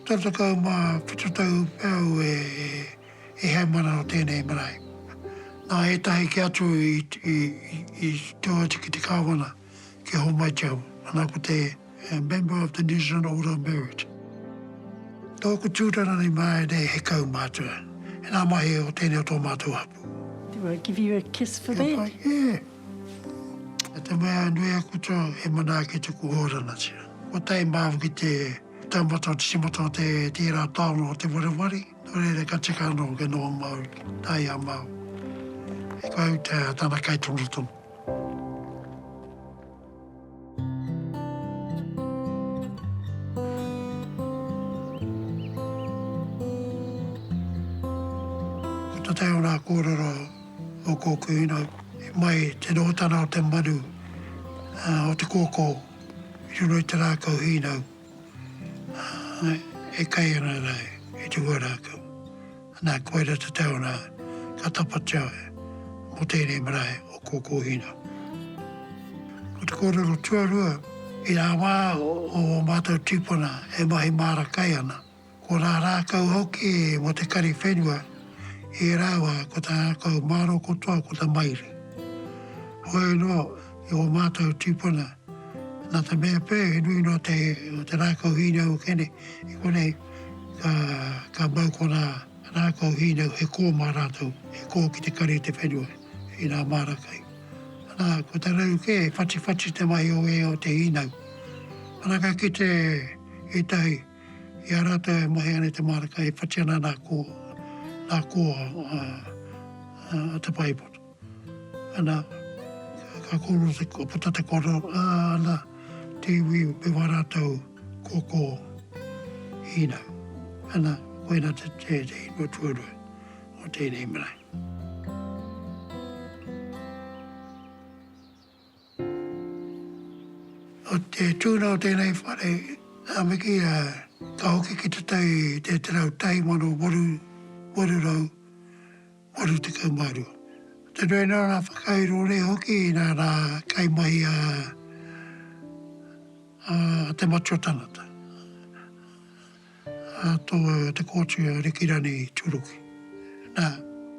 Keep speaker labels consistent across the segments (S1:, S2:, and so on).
S1: Tau tekau ma whitu tau pea au e heimana o tenei marae. Na etahi ke atu i teo atu ki te kawana ki Homai Te Awa, ana ko te member of the New Zealand Order of Merit. Toku tutara nei marae nei he kau matua, ena mahi o tenei o to matou hapu. Do I give
S2: you a kiss for that?
S1: I te mea nui a Kuto he mana ake tuku hōranatia. Ko Taimaoki te taumata o te timata o te tērā taonga o Te Wareware, nō reira ka tika anō kia noho Māori, tā ia Mao. He kauta tana kaitonotono. Ko te tau rā kōrero o kōku ina i mai te nohotana o te maru o te kōkō i roto i te rākau hīnau. Ā, e kai ana rāu ki te huarākau, nā, koira te tau nā, ka tapatia ai mō tēnei marae o Kōkōhina. Ko te kōrero tuarua, i rā wā o ō mātou tīpuna e mahi māra kai ana, Ko tā rākau hoki mō te kari whenua, e rāua ko tā rākau māro katoa ko te maire. Whoi noa i ō mātou tīpuna, nā te mea pē he nui noa te te rākau hīnau o Kene i konei, ka ka mau ko nā rākau hīnau he kō mā rātou, he kō ki te kari te whenua i nā māra kai. Nā, ko te rau kē, whatiwhati te mahi o ē o te hīnau. Ana ka kite ētahi. I a rātou e mahi ana i te mārika e whati ana nā kō, nā kō a Te Paepoto. Ana, ka kōrero te puta te kōrero, ā, ana, te iwi me wā rātou kōkō hīnau. Ana, koina te, te, te inua tuarua o tēnei marae. Ko te tuna o tēnei whare, a Miki, ka hoki ki te tai i te tarau 1882. Te nui noa ngā whakairo nei hoki inā rā kaimahi a Te Matua Tangata. Tō te kōti a Rikirani Turuki. Nā,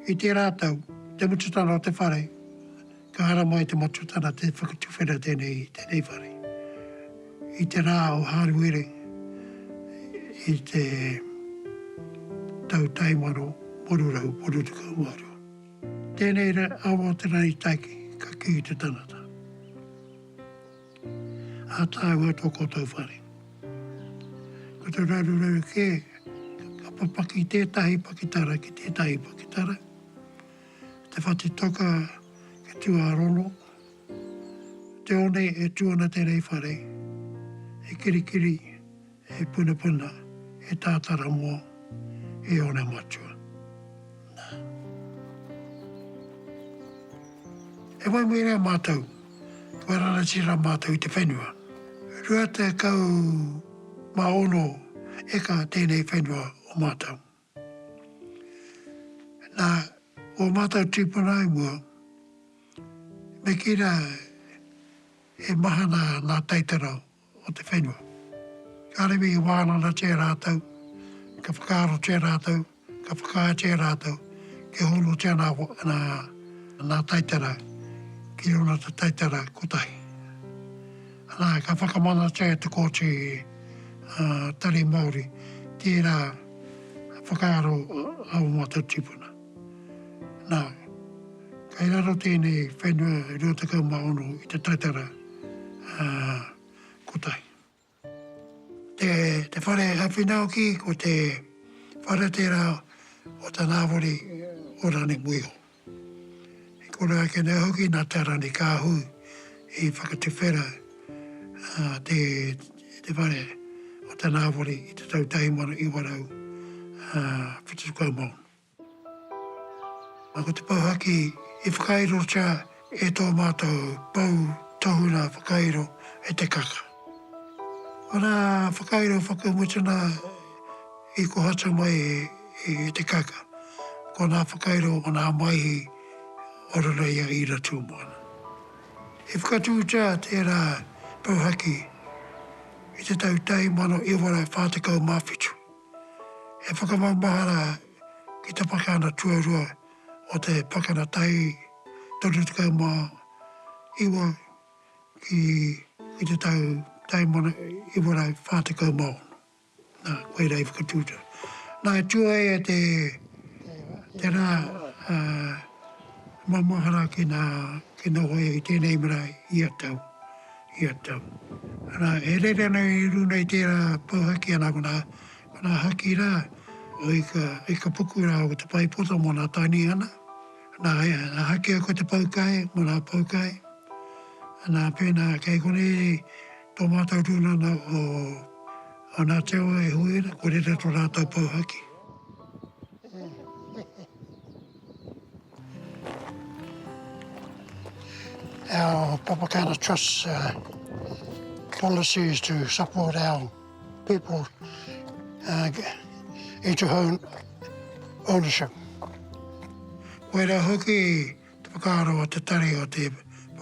S1: i tērā tau, te mututana o te whare, ka haramai te matutana te whakatuwhera tēnei i tēnei whare. I te rā o Hāruere i te tau tae mano waru rau waru tekau mā rua. Tēnei awa o te rari taiki ka kī te tangata. Ā tāua tō koutou whare. Ko te raruraru kē, ka papaki tētahi pakitara ki tētahi pakitara, te whati toka e tuārono, te one e tū ana te rei whare, e kirikiri, He punapuna, he tātara mō, e ora matua. Nā. E wai mui rā mātou, kua ranati rā mātou i te whenua. Rua tekau mā ono eka tēnei whenua o mātou. Nā, ō mātou tīpuna i mua, me kī rā he mahana ngā taitara o te whenua. Ka rere i wānanatia rātou, ka whakaarotia rātou, ka whakaaetia rātou kia honotia ngā taitara ki ōna taitara kotahi. Nā, ka whakamanatia e te Kōti Tari Māori tērā. whakaaro a ō mātou tīpuna. Nā, kei raro tēnei whenua 26 i te taitara kotahi. Te whare āwhina hoki ko te whare tērā o tā Ngāwari o Rangimuiho. I kore ake nei hoki nā Te Aranikāhui i whakatuwhera te whare o Te Nāwari i te tau 1976. Ko te pouhaki i whakairotia e tō mātou pou tohunga whakairo e Te Kaka. Ana whakairo whakamutunga i kohatu mai e te kaka, ko nā whakairo o nā Maihi o roto i a Ira Tūmoana. I whakatūtā tērā pouhaki i te tau 1947, he whakamaumahara ki te pakana tuarua o te Pakana Tahi 39, ki, i te tau taimana iwa rau wha tekau ma ono. Na, koira i whakatuta. Na, e tua ai e te, tena, a, maumahara ki na, ki noho ia i tenei marae, ia tau, ia tau. Na, e rere ana i runa i tera pou haki ana ko na, ko na haki ra, o ika, ika puku ra o te paipota mo na Tainihana, Nā, nā hakea ko te poukai, mō nā poukai. Nā, pēnā kei konei tō mātou tūnana o Ngā Te Awa e hui ana, ko reira tō rātou pou haki. Our Papakana Trust policy is to support our people into home ownership. Koirā hoki te whakaaro o te tari o te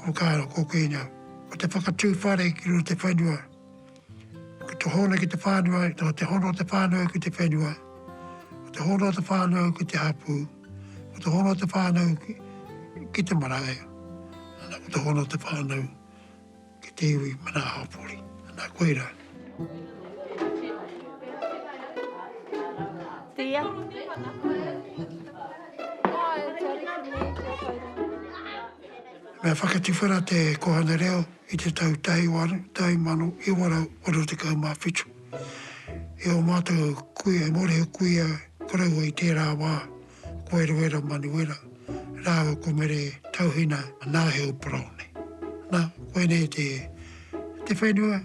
S1: whakaaro kōkīnga, ko te whakatū whare ki runga te whenua, ki te hono ki te whānau, ko te hono te whānau ki te whenua, ko te hono te whānau ki te hapū, ko te hono te whānau ki te marae, ko te hono te whānau. ki te iwi manahapori. Ana koe ra. Me whakatiwhera te Kohane Reo i te tau tahi o aru, tahi mano, iwa rau, waru tekau ma whitu. E o matou kuia, e Morehu kuia, koroua i tera wa, ko Eruera Manuera rāua ko Mere Tauhina Naheu Paraone. Nā, koinei te, te whenua,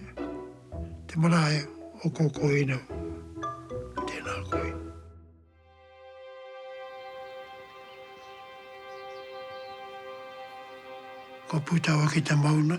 S1: te marae o Kōkōhina. Tēnā koe. Ko Pūtawa ki te mauna.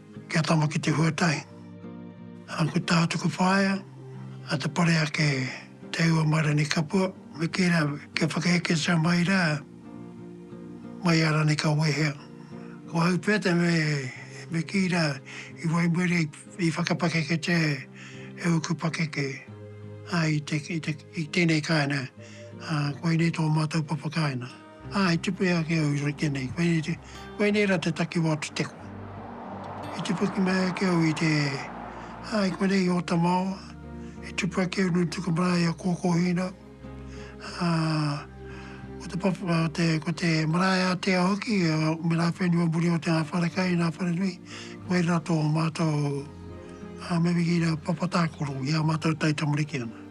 S1: Kia tama ki te huatahi. Aku tā tuku whaea, a Te Pareake Te Aua mai Ranikapua. Me kī rā, kia whakaeketia mai rā, mai a Ranika Wehea. Ko au pea te me kī rā, i waimaria, i whakapakeketia e ōku pakeke, ā, i tēnei kāinga, ā, koinei tō mātou papakāinga. Ā, i tipu e a Keau i rite nei, koinei rā te takiwā o te teko. I tipu ki mai a Keau i te, ā, i konei i Ōtamaoa, i tipu a Keau nui tuku marae i a Kōkōhīnau, ā, ko te papa, ā, te, ko te marae ātea hoki, ā, me ngā whenua muri o te ngā wharekai, ngā wharenui, koirā rā tō mātou, ā, me wehi rā, papa tākaro i ā mātou taitamariki ana.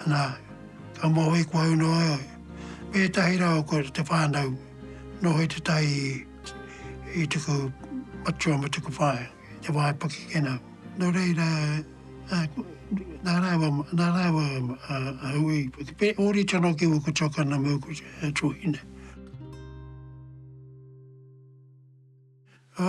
S1: Nā, ka moe koe au noa au. Me ētahi rā o koutou te whānau noho i tētahi i tuku matua me tuku whaea, i te wā e pakikina. Nō reira, nā rāua, nā rāua a Hui, me ōrite anō ki ōku tuakana me ōku tuahine. Ō,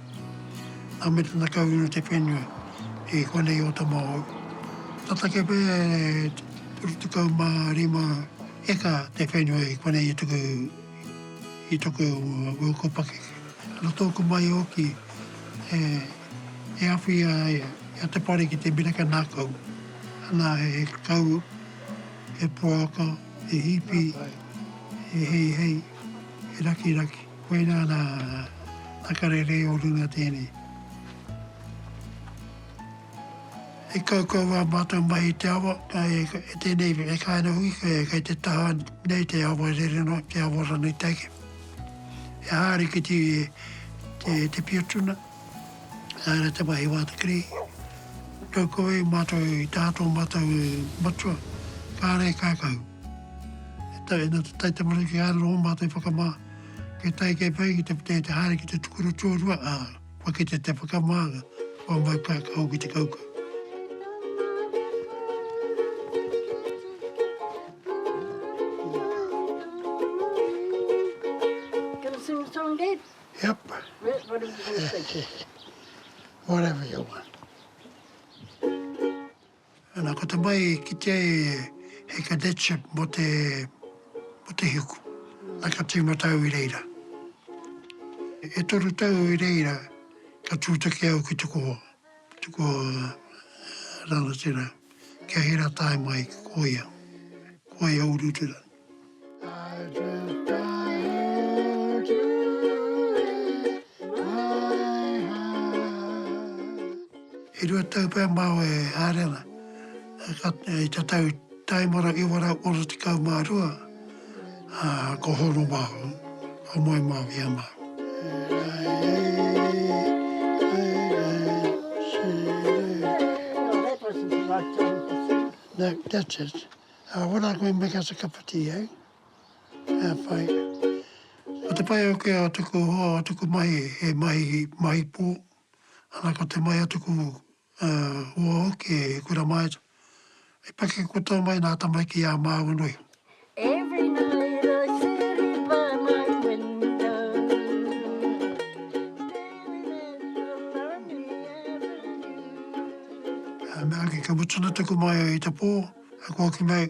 S1: Nā me tana kau inu te whenua i konei o Tamahou. Tata kē pea e 35 heka te whenua i konei i tuku i toku uku pakeke. Nō tōku mahi hoki e awhi ai a Te Pare ki te miraka nākau, nā he kau, he poaka, he hipi, he heihei, he rakiraki. Koinā nā nā karere o runga tēnei. He kaukau ngā mātou mahi i te awa, e tēnei e kainga hui kei te taha nei te awa rere noa, te awa ranei take. He hārikiti te pia tuna. Nā reira te mahi wā te kiri. Tau ko wai mātou i taha tō mātou matua, kāre e kākau. E tae ana te tai tamariki ā raro ō mātou i whakamā. Kei tae kei whai ki te putē te haere ki te tukuru tuarua, ā, kua kitea te whakamānga o ā māu kākau ki te kaukau.
S2: Yep. Yep, whatever you want
S1: to say. whatever you want. Ana, ko te mai ki te he cadetship mo te, mo te hiku. Ai ka tīmata au i reira. E toru tau i reira, ka tūtaki au ki te koho. Te koho uh, rangatira. Kia hira tae mai ki koia. Koia urutura. E rua tau pea māu e haere ana, i te tau taimara ki waru ora tekau mā rua, ko Hono māu, ko Moe māu ia māu. Uh, what are going to make us a cup of tea, eh? Uh, whai. Ko te pai au ke a tuku hoa, a tuku mahi, he mahi, mahi pō. Ana ko te mai a tuku uh, hoa hoki, he kura maeta. I pake koutou mai nā tamaiki ā māua nui. Every night I sit by my window Daily and
S2: the Mea hoki, ka mutuna
S1: tuku mahi i te pō. Ka kōki mai,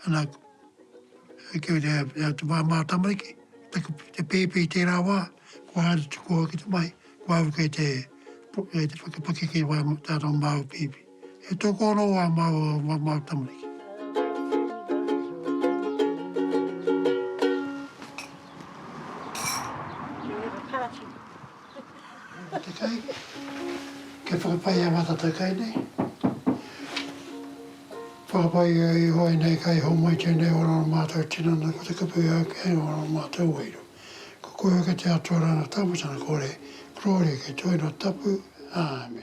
S1: ana, e kī ana ia te māmā tamariki, te pēpi i tērā wā, kua haere tuku au ki te mahi, kua au kei te whakapakeke i wā tātau māu pēpi. He toko anō wā māu tamariki. Te kai, kia whakapai e Mātatau kai nei. Whakapai e Ihowa inei kai homai tenei ora o Mātou tinana ko te kupu ia ke hanga ora o Mātou wairua. Ko koe hoki te Atua ranga tamatana kore, Gloria kei Te Huinga Tapu. Āmene.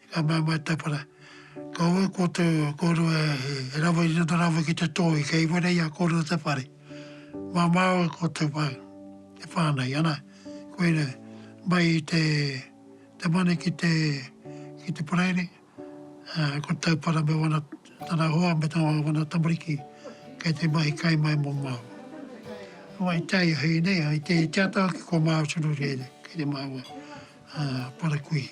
S1: Ka mau mai tapara. Ko au ko tō kōrua he rawa i roto rawa ki te tōi kei wera i a kōrua te whare. Māmā au e kōtou whai, te whānai, ana, koira, mai i te te mane ki te ki te paraire, ā, ko Taupara me ōna tana hoa me tō ōna tamariki kei te mahi kai mai mō māua. Wai te ai hei nei, hei te āta ake ko māua tonu rēnei, kei te māua. Parakui.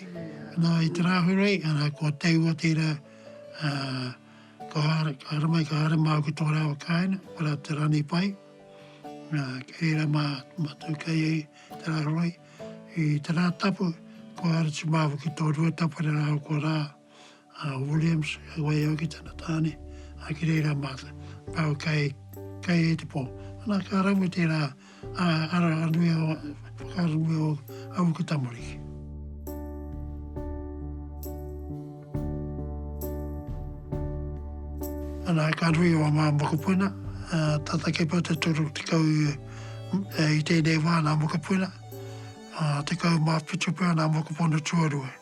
S1: Nā, i te Rāhurei, arā, ko Teua tērā, ā, ka haere, ka haere mai, ka haere māu ki tō rāua kāinga, ko rā te Raneipai, ā, kei reira mā, mā tū kei ai te Rāhurei. I te Rātapu, kua haere atu māu ki tō Ruatapu rāua ko Rā. a Williams, hei waiho ki tana tāne, a ki reira mā te pau kai, kai e te pō. Ana ka rawe tērā a, ara a nui o, whakaaro nui o au ki tamariki. Ana ka nui o ngā mokopuna, tata kei pau te toru tekau i tēnei wā ngā mokopuna, tekau mā whitu pea ngā mokopuna tuarua.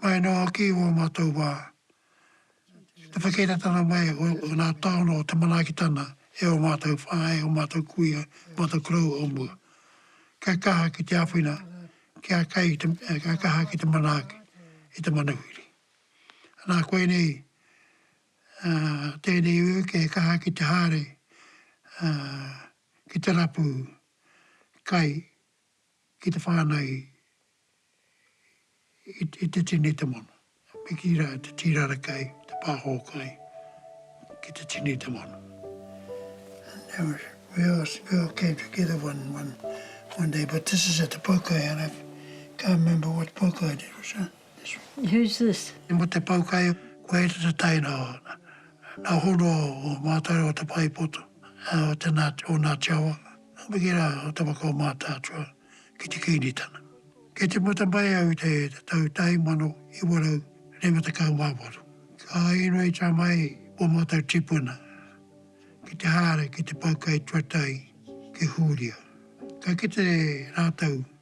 S1: Mai anō hoki i ō mātou wā, i te whakairatanga mai o ngā taonga o te manaakitanga e ō mātou whāngai, ō mātou kuia, ō mātou koroua o mua. Kia kaha ki te āwhina, kia kai, kia kaha ki te manaaki i te manuhiri. Anā koinei, tēnei ū kia he kaha ki te haere, ki te rapu kai ki te whānau i te tini te mono, me kī rā te tīrara kai, te pāho kai ki te tini te mono. We all we all came together one one one day, but this is at the Poukai and I can't remember what Poukai it was. Huh? This one. Who's
S2: this? I mo te Poukai,
S1: ko e te taina o nā hono o Mātaro o Te Paepoto, o te nā, o Ngāti Awa. Hoki rā o Tamakau Mātaatua ki te Kīngitana. Kei te puta mai au i te tau 1998. Ka inoi tā mai ō mātou tīpuna ki te haere ki te pau kai tuatahi ki Hūria. Ka kite rātou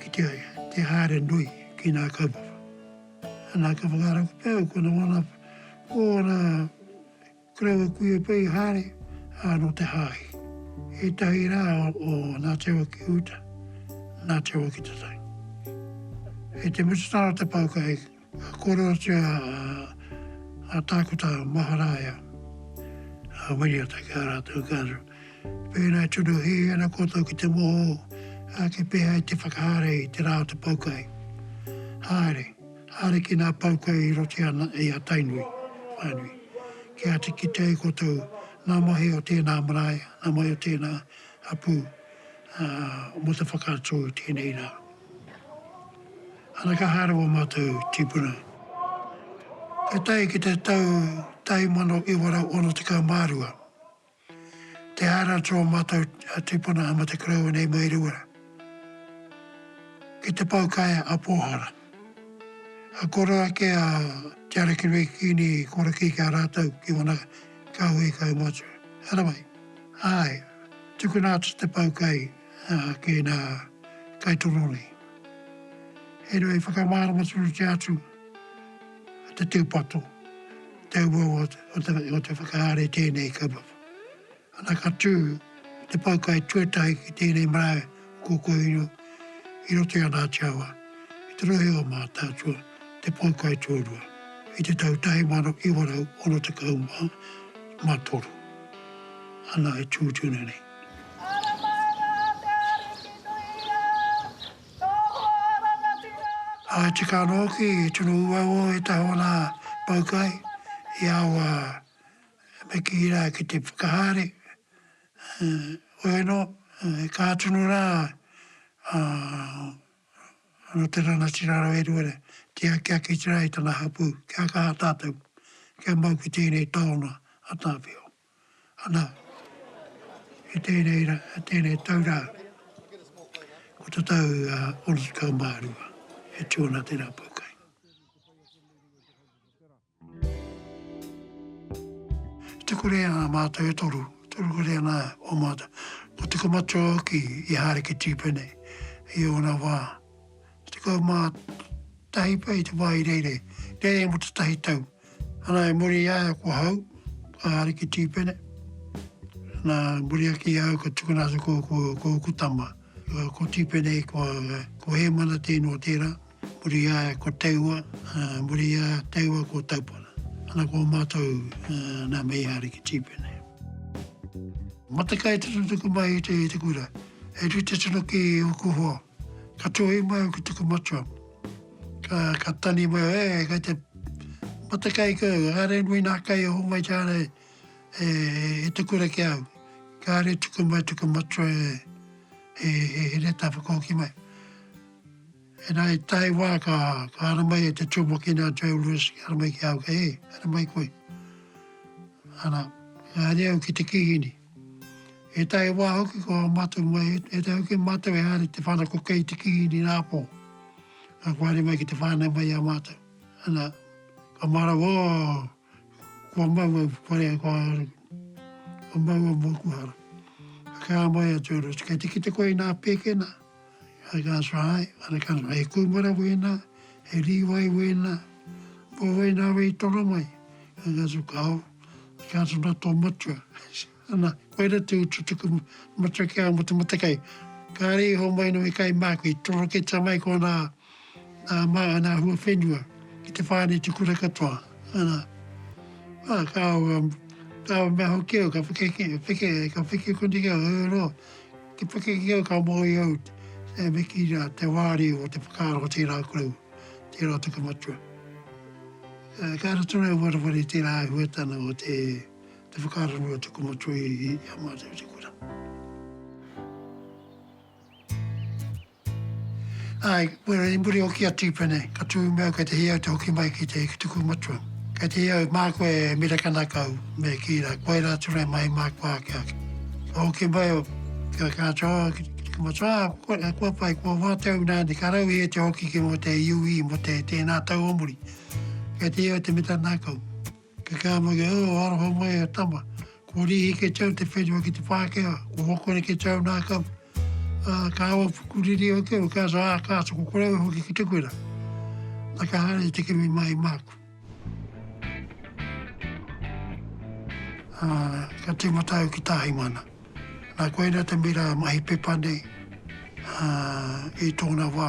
S1: Ki te ai, te haere nui ki nā kaupapa. Nā ka whakarato pea ko nā wāna, ko ōna karaua kuia pea i haere, ā, nō te Hāhi. Ētahi rā o nā Te Waki Uta, nā Te Waki Tatahi. Kei te mutunga o te pāka hei Korotia a Tākuta Maharaia, a Wiriata ki a rātou kāre. Pēnei tonu hē ana koutou ki te moho ake pēhea i te whakahaere i te rā o te pau kai. Haere, haere ki nā pau kai i roti ana i a Tainui, whānui. Kia āta kitea e koutou nā mahi o tēnā marae, nā mahi o tēnā hapū, ā, mō te whakaatu i tēnei rā. Ana ka haere o mātou tīpuna. Ka tae ki te tau 1962, te haere atu o mātou tīpuna a Mate Koroua nei mai Rewa ki te Poukaea a Pōhara. Ka koro ake a Te Arakirei Kīngi Korokī ki a rātou ki ōna kāhui kaumātua. Haramai. Āe, tukuna atu te poukai. Ā, kē nā, kai torone. Heoi, whakamārama tonutia atu te tūpato, te uaua o te whakahaere tēnei kaupapa. Ana ka tū te pau kai tuatahi ki tēnei marae o Kōkōhiro i roto i ana ati awa, i te rohe o Mātaatua, te pau kai tuarua, i te tau 1963. Ana e tū tonu nei. I tika anō hoki i tino uaua e te Hawana Poukai i aua me kī rā ki te whakahaere, oianō he kaha tonu rā nō te rangatira rawa e rua nei, tiaki ake atu rā i tana hapū, kia kaha tātou, kia mau ki tēnei taonga a Tāwhiao. Ana, i tēnei ra, tēnei tau rā, ko te tau orikau mā rua e tū ana te rā pōkai. I te kore a mātou e toru, toru kore ana o mātou, ko Te Kamatua hoki i haere ki Tīpene i ōna wā, 11 pea i te wā i reirei, reirei mō te tahi tau. Ana, i muri i a ia ko Hau, a Ariki Tīpene, nā, i muri ake i a au ka tukuna atu ko, ko, ko ōku tama, ko Tīpene, ko, ko Hēmana tēnō tērā, i muri i a ia ko Teua, i muri i a Teua ko Taupara. Ana, ko mātou, nā Meiha Ariki Tīpene. Matekai te tutuki mai i te, i te kura. E rite tonu ki ōku hoa. Ka tuhi mai au ki tuku matua. Ka, ka tani mai au, e, eh, kei te mata kai kau, kāre nui nā kai e hongai ki a rei, e, e tuku ra ki au. Kāre tuku mai tuku matua e, e, e, e reta whakauki mai. E nā, i tae wā ka, ka ara mai e te tūmokina a Joe Lewis, ka ara mai ki au, kei, e, ara mai koe. Ana, kāre au ki te kihini. Ētahi wā hoki ko ā mātou mai, ētahi hoki mātou e haere te whanako kei te kīngi rāpō, ka whaere mai ki te whānau mai i a mātou. Ana, ka marau, oh, kua mau au, whare au, kua haere au, kua mau au mōku hara. Ka kī a Moeatua Ross, kei te kite koe i nā pēkena, Hei tā Sarae, Arekana, he kūmara wēnā, he rīwai wēnā, kua wai nāwai i toro mai? Hei tā Tuku, Ao, he kāta nā tō matua. Ana, koira tū tū tuku matua ki a Mata Matakai. Kāre i homai noa i kai māku, i toroketa mai kōnā Mā ana hua whenua ki te whāneti kura katoa. Kāore mea hoki au ka wheke koni ki au, heoi anō, te wheke ki au ka moe au me kī rā te wāri o te whakaaro o tērā koroua, tērā o te kamatua. Ka rato nei warawara i tērā āhuatanga o te whakaaro nui o te kamatua i a mātou te kura. Āe, koe rā i muri hoki a Tīpene, ka tū me au kei te hē au te hoki mai ki te tuku matua. Kei te hē au mā koe e mirakana kau, me kī rā, koe rā atu rā mai mā koa ake ake. Ka hoki mai au, ka kātau au ki te tuku matua, ā, koe rā, kua pai, kua wātau nāni, ka rau i hē te hoki ki mō te UE, mō te tēnā tau o muri. Kei te hē au te mirakana kau. Ke kea mai e au, aroha mai e tama. Ko Rihike Chau te whenua ki te Pākehā, ko Hokoreke Chau nā Kapu. Ā, kāua pukuriri o te o ka so, ā, ka soko kore au hoki ki te kura. Na ka haere te kimi mai māku. Ā, ka tīmata au ki Tāhimana. Nā koina te mira mahi pepa nei i tōna wā.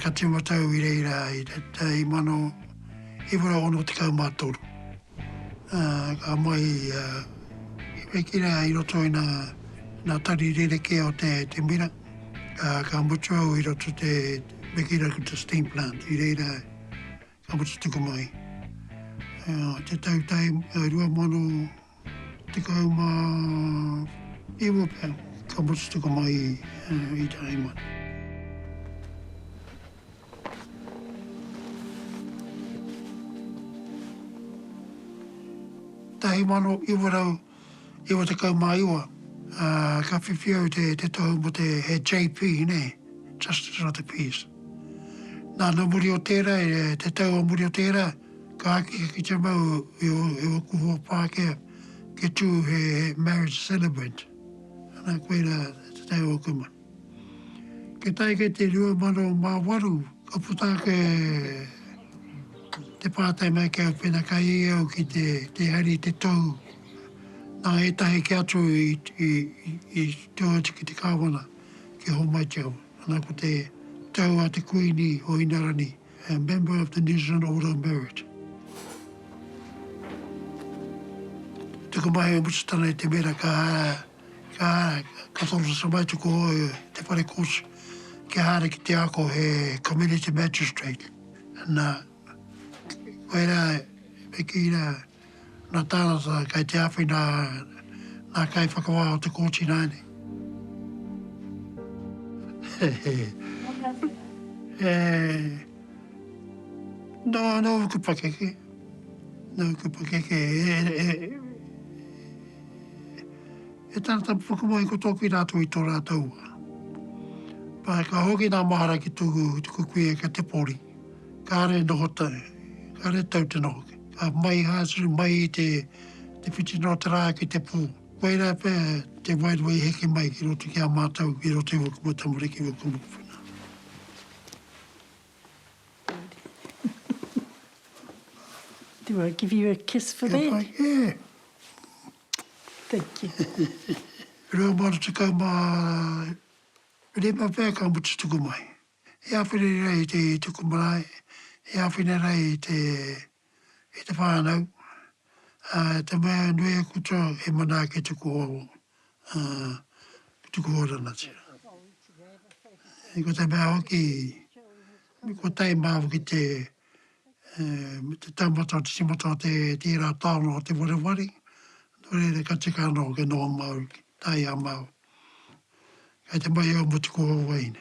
S1: Ka tīmata au i reira i te tau 1963. Ka mahi a Hepekira i roto i nā tari rerekē o te mira. Ka mutu au i roto i te Mekirakuta Steam Plant i reira. Ako te tuku mai. Te tau tai 2019 pea, ka ako te tuku mai i te aimara. Tahi mano iwa rau 99, ā, ka whiwhi au te, te tohu mō te, he JP, nē, Justice of the Peace. Nā, nō muri o tērā, e, te tau o muri o tērā, ka āki ki te mau i o, i ōku hoa Pākehā, kia tū he, he marriage celebrant. Nā, koirā te tau o kumua. Ki tai ki te 2008 ka puta ake te pātai mai ki au pēnā ka i au ki te te haere i te tou nā ētahi kē atu i tō atu ki te kāwana ki Homai Town ana ko te tau a te Kuini o Inarani a member of the New Zealand Order of Merit. Tuku mai e Mutusatana i te mera ka Ka toro tamaituku au e te whare kōti kia haere ki te ako he Community Magistrate. Na, koirā e kī ana nā tānata kei te āwhina ngā kaiwhakawā o te kōti ināianei. Nōku pakeke, nōku pakeke e. He tara tapuwhaka mai ko tōku i rātou i tō rātou wā. Pākehā hoki nā mahara ki tōku kuia kia te pori. Kāre noho tau, kāre tau te noho. Ka mai Hasu, mai i te whitinga o te rā ki te pō. Koirā pea te wairua i heke mai ki roto ki a mātou, ki roto i ōku mau tamariki, ōku mokopuna. Do
S2: I give
S1: you a kiss for that? Kia pai, eh! Thank you. Rua mano tekau ma rima pea ka mutu tuku mai. He awhina rai te tuku marae, he awhina rai te ki te whānau, ā, te mea e nui aku tau e manaaki tuku oro, ā, tuku oranatia. Ā, ko te mea hoki, ko Te Māu ki te, ā, me te taumata o te timata o te tērā taonga o Te Wareware, nō reira ka tika ana hoki nō Māu, tā ia Māu. Kei te mahi au mō tuku oro wahine.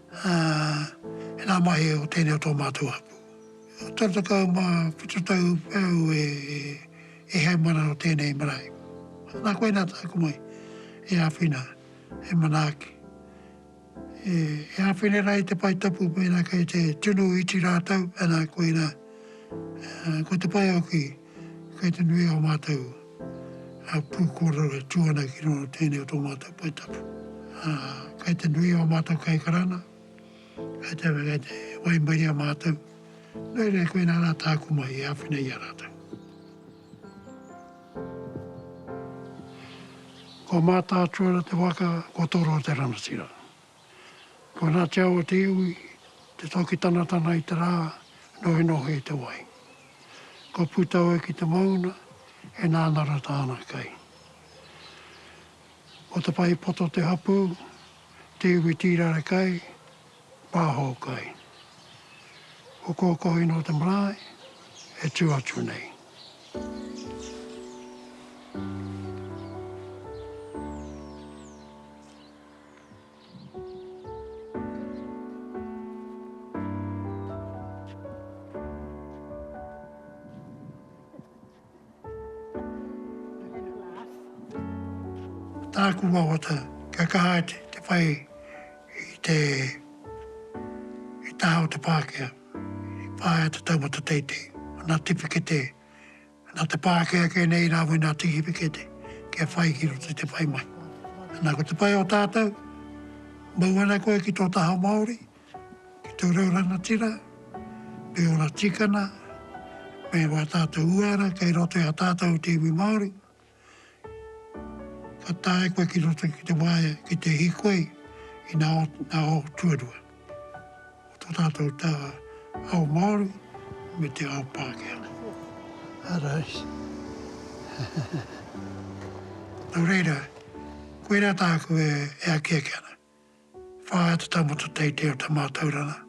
S1: Ā, e ngā mahi o tēnei o tō mātou hapū. Tau tekau mā whitu tau pea au e heamana nō tēnei marae. Nā koinā tāku mahi e āwhina, e manaaki. E āwhina rā i te pae tapu mēnā kei te tunu iti rātou, nā koinā, ko te pae o ki. Kei te nui ō mātou pū kōrero e tū ana ki roto o tēnei o tō mātou pae tapu. Kei te nui ō mātou kaikaranga, kei te waimarie mātou, nō reira e koinā rā tāku mahi e āwhina i a rātou. Ko Mātaatua te waka, ko Toro te rangatira. Kua natia o te iwi te toki tanatana i te rā, nohinohi i te wai. Kua puta oe ki te mauna, e nānara tāna kai. Ko te pahi poto te hapū, te iwi tīrare kai, pāho kai. Ko Kōkohi nō te marae, e tū atu nei. Ko tāku wawata, kia kaha atu te whai i te taha o te Pākehā i whāia te taumata teitei, ana tiwhikete Nā te pā ake ake nei rāua i nā tīhipikete kia whai ki roto i te whai mai. Nā, ko te pai o tātou, mau ana koe ki tō taha Māori, ki tō reo rangatira, me ōna tikana, me wā tātou uara kei roto i a tātou te iwi Māori, Ka tae koe ki roto ki te waea ki te hīkoi i ngā ao tuarua o tō tātou tā ao Māori me te ao Pākehā. Arā i. Nō reira, koirā tāku e akiaki ana. Whāia te taumata teitei o te mātauranga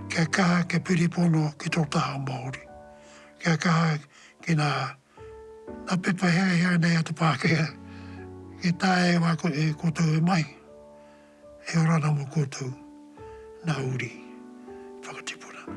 S1: kia kaha kia piripono ki tō taha Māori, kia kaha ki nā nā pepa herehere nei a te Pākehā e taea e wā e koutou e mahi, e ora ana mō koutou nā uri whakatipuranga.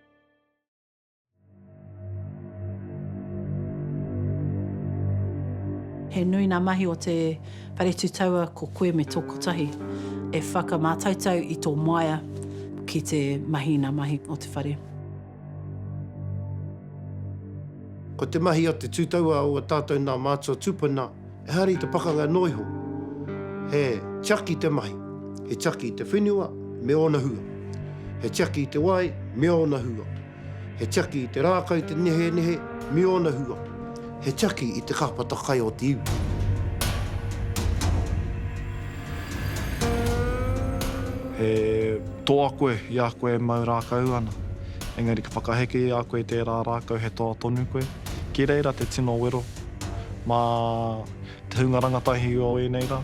S3: He nui ngā mahi o te Whare Tū Taua ko koe me tō kotahi e whakamātautau i tō māia ki te mahi i ngā mahi o te whare.
S4: Ko te mahi a te Tū Taua o a tātou nā mātua tūpuna. Ehara i te pakanga noa iho, he tiaki te mahi, he tiaki te whenua me ōna hua, he tiaki te wai me ōna hua, he tiaki te rākau te nehenehe me ōna hua, he tiaki i te kāpata kai o te iwi.
S5: He toa koe i a koe e mau rākau ana, engari ka whakaheke i a koe tērā rākau he toa tonu koe, ki reira te tino wero Mā te hunga rangatahi o ēnei rā.